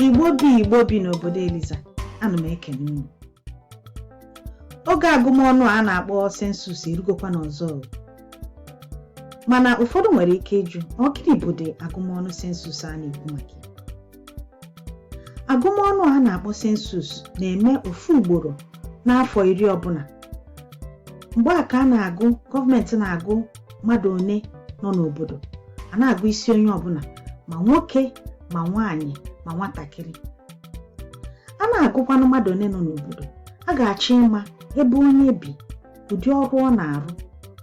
igbo bi igbo bi n'obodo eliza ana m ekene unu oge agụmọnụ a na-akpọ census erugokwanụ ọzọ o. mana ụfọdụ nwere ike ịjụ ọ gịnị bụdị agụmọnụ census a na-ekwu maka ya. agụmọnụ a na-akpọ census na-eme ofu ugboro n'afọ iri ọbụna mgbe a ka a na-agụ gọọmenti na-agụ mmadụ one nọ n'obodo a na-agụ isi onye ọbụna ma nwoke ma nwaanyị ma nwatakịrị a na-agụkwanụ mmadụ one nọ n'obodo a ga-achọ ịma ebe onye bi ụdị ọrụ ọ na-arụ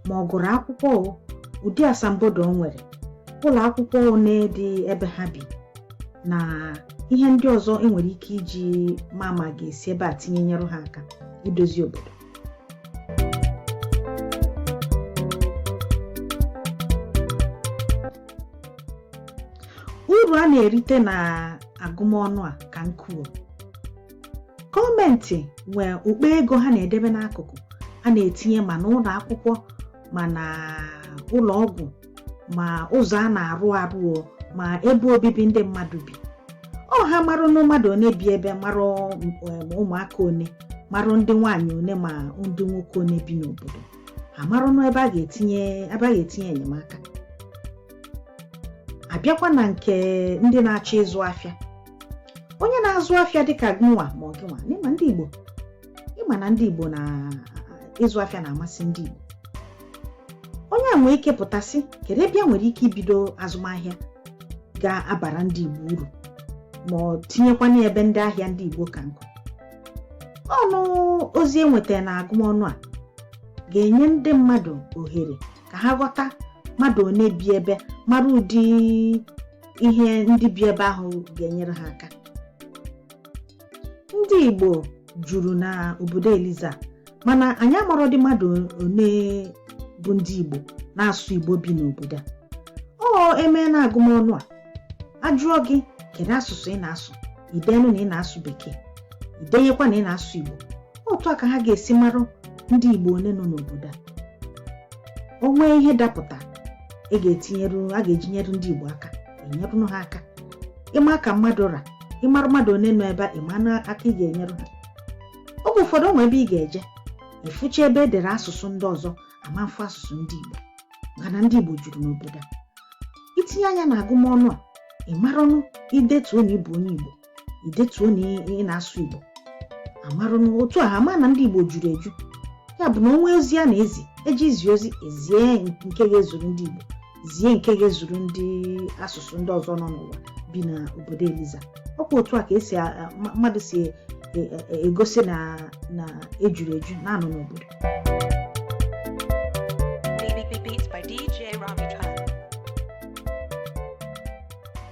ma ọ gụrụ akwụkwọ o ụdị asambodo o nwere ụlọ akwụkwọ one dị ebe ha bi na ihe ndị ọzọ enwere ike iji ma ma a ga-esi ebe a tinye nyere ha aka idozi obodo uru a na-erite na agụmọnụ a ka nku o gọọmenti nwee ụkpa ego ha na-edebe n'akụkụ a na-etinye ma n'ụlọ akwụkwọ ma na ụlọ ọgwụ ma ụzọ a na-arụ arụ o, ma ebe obibi ndị mmadụ bi o ha marụnụ mmadụ one bi ebe marụ um, ụmụaka one marụ ndị nwaanyị one ma ndị nwoke one bi n'obodo ha amarụnụ ebe a ga-etinye enyemaka abịakwa na nke ndị na-achọ ịzụ afịa onye na-azụ afịa dịka gụnwa ma ọ gịnwa n'ịma ndị Igbo ịma na ndị Igbo ịzụ afịa na-amasị ndị Igbo onye a nwee ike pụta sị kedu ebe ya nwere ike ibido azụmahịa ga-abara ndị Igbo uru ma tinyekwanụ ebe ndị ahịa ndị Igbo ka nku ọnụ ozi enwetara na agụmọnụ a ga-enye ndị mmadụ ohere ka ha ghọta mmadụ one bi ebe mara ụdị ihe ndị bi ebe ahụ ga-enyere ha aka ndị Igbo juru na obodo Eliza mana anyị amarọdị mmadụ one bụ ndị Igbo na-asụ Igbo bi n'obodo a o emeenụ agụmọnụ a ajụọ gị kedu asụsụ ị na-asụ i denụ na ị na-asụ bekee i denyekwa na ị na-asụ Igbo otu a ka ha ga-esi marụ ndị Igbo one nọ n'obodo a o nwee ihe dapụta a ga-eji nyere ndị Igbo aka enyerụnụ ha aka ịma ka mmadụ ra ị mara mmadụ one nọ ebe a ị manụ aka ị ga-enyere ha oge ụfọdụ o nwe ebe ị ga-eje ị fụcha ebe e dere asụsụ ndị ọzọ ama mfụ asụsụ ndị Igbo maka na ndị Igbo juru n'obodo a i tinye anya na agụmọnụ a ị maranụ i detuo na ị bụ onye Igbo idetuo na ị na-asụ Igbo a marụ na otu a ama na ndị Igbo juru eju ya bụ na o nwee ozi a na-ezi eji izi ozi e zie nke ga-ezuru ndị Igbo zie nke ga-ezuru ndị asụsụ ndị ọzọ nọ n'ụwa bi na obodo Eliza ọ kwa otu a ka e si mmadụ si e, e, e, egosi na na e juru eju na-anọ n'obodo